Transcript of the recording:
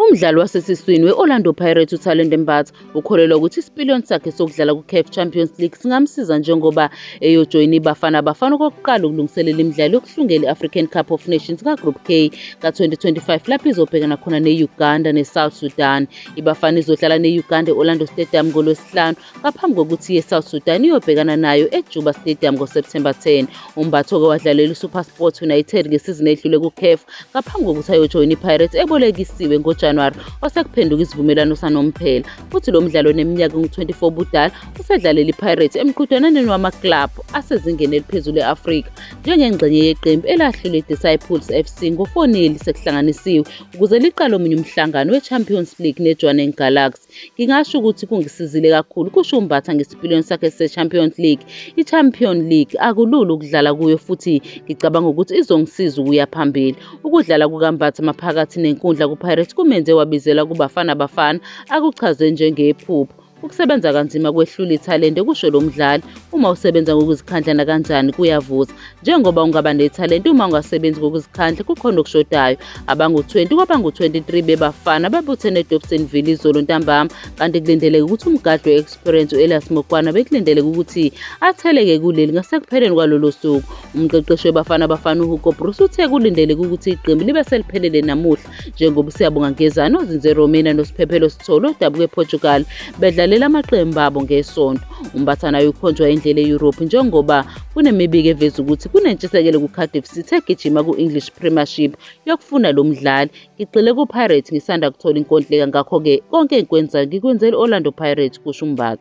Umdlali wasesiswini we-Orlando Pirates uThalente Mbatha ukholelwa ukuthi isipiliyoni sakhe sokudlala ku-CAF Champions League singamsiza njengoba eyojoyina iBafana Bafana okokuqala ukulungiselela imidlalo yokuhlungela i-African Cup of Nations kaGroup K ka-2025 lapho izobhekana khona ne-Uganda ne-South Sudan. IBafana izodlala ne-Uganda e-Orlando Stadium ngoLwesihlanu ngaphambi kokuthi iye South Sudan iyobhekana nayo eJuba Stadium ngoSepthemba 10. UMbatha oke wadlalela iSuperSport United ngesizini edlule kuCAF ngaphambi kokuthi ayojoyina iPirates ebolekisiwe ngoJanuwari osekuphenduka isivumelwano sanomphela. Futhi lo mdlalo oneminyaka engu-24 ubudala usedlalela iPirates emqhudelwaneni wamaklabhu asezingeni eliphezulu e-Afrika njengengxenye yeqembu elahlule iDisciples FC ngo-4 sekuhlanganisiwe ukuze liqale omunye umhlangano weChampions League neJwaneng Galaxy. Ngingasho ukuthi kungisizile kakhulu, kusho uMbatha ngesipiliyoni sakhe se-Champions League. I-Champions League akulula ukudlala kuyo futhi ngicabanga ukuthi izongisiza ukuya phambili. Ukudlala kukaMbatha maphakathi nenkundla kuPirates kumenze wabizelwa kuBafana Bafana, akuchaze njengephupho. Ukusebenza kanzima kwehlula ithalente kusho lo mdlali. Uma usebenza ngokuzikhandla nakanjani kuyavuza. njengoba ungaba nethalente uma ungasebenzi ngokuzikhandla kukhona okushodayo abangu-20 kwabangu-23 bebafana babuthene edobsonville izolo ntambama kanti kulindeleke ukuthi umgadli we-experience u-elias mokwana bekulindeleke ukuthi atheleke kuleli ngasekupheleni kwalolo suku umqeqeshi webafana bafana uhugo bruce uthe kulindeleke ukuthi iqembu libe seliphelele namuhla njengoba uSiyabonga Ngezana ozinze Romania noSiphephelo Sithole odabuka ePortugal bedlalela amaqembu abo ngesonto. UMbathana ayokhonjwa indlela e-Europe njengoba kunemibiko eveza ukuthi kunentshisekelo kuCardiff City egijima ku-English Premiership yokufuna lo mdlali. Ngigxile kuPirates ngisanda kuthola inkontileka ngakho-ke konke engikwenzayo ngikwenzela i-Orlando Pirates, kusho uMbatha.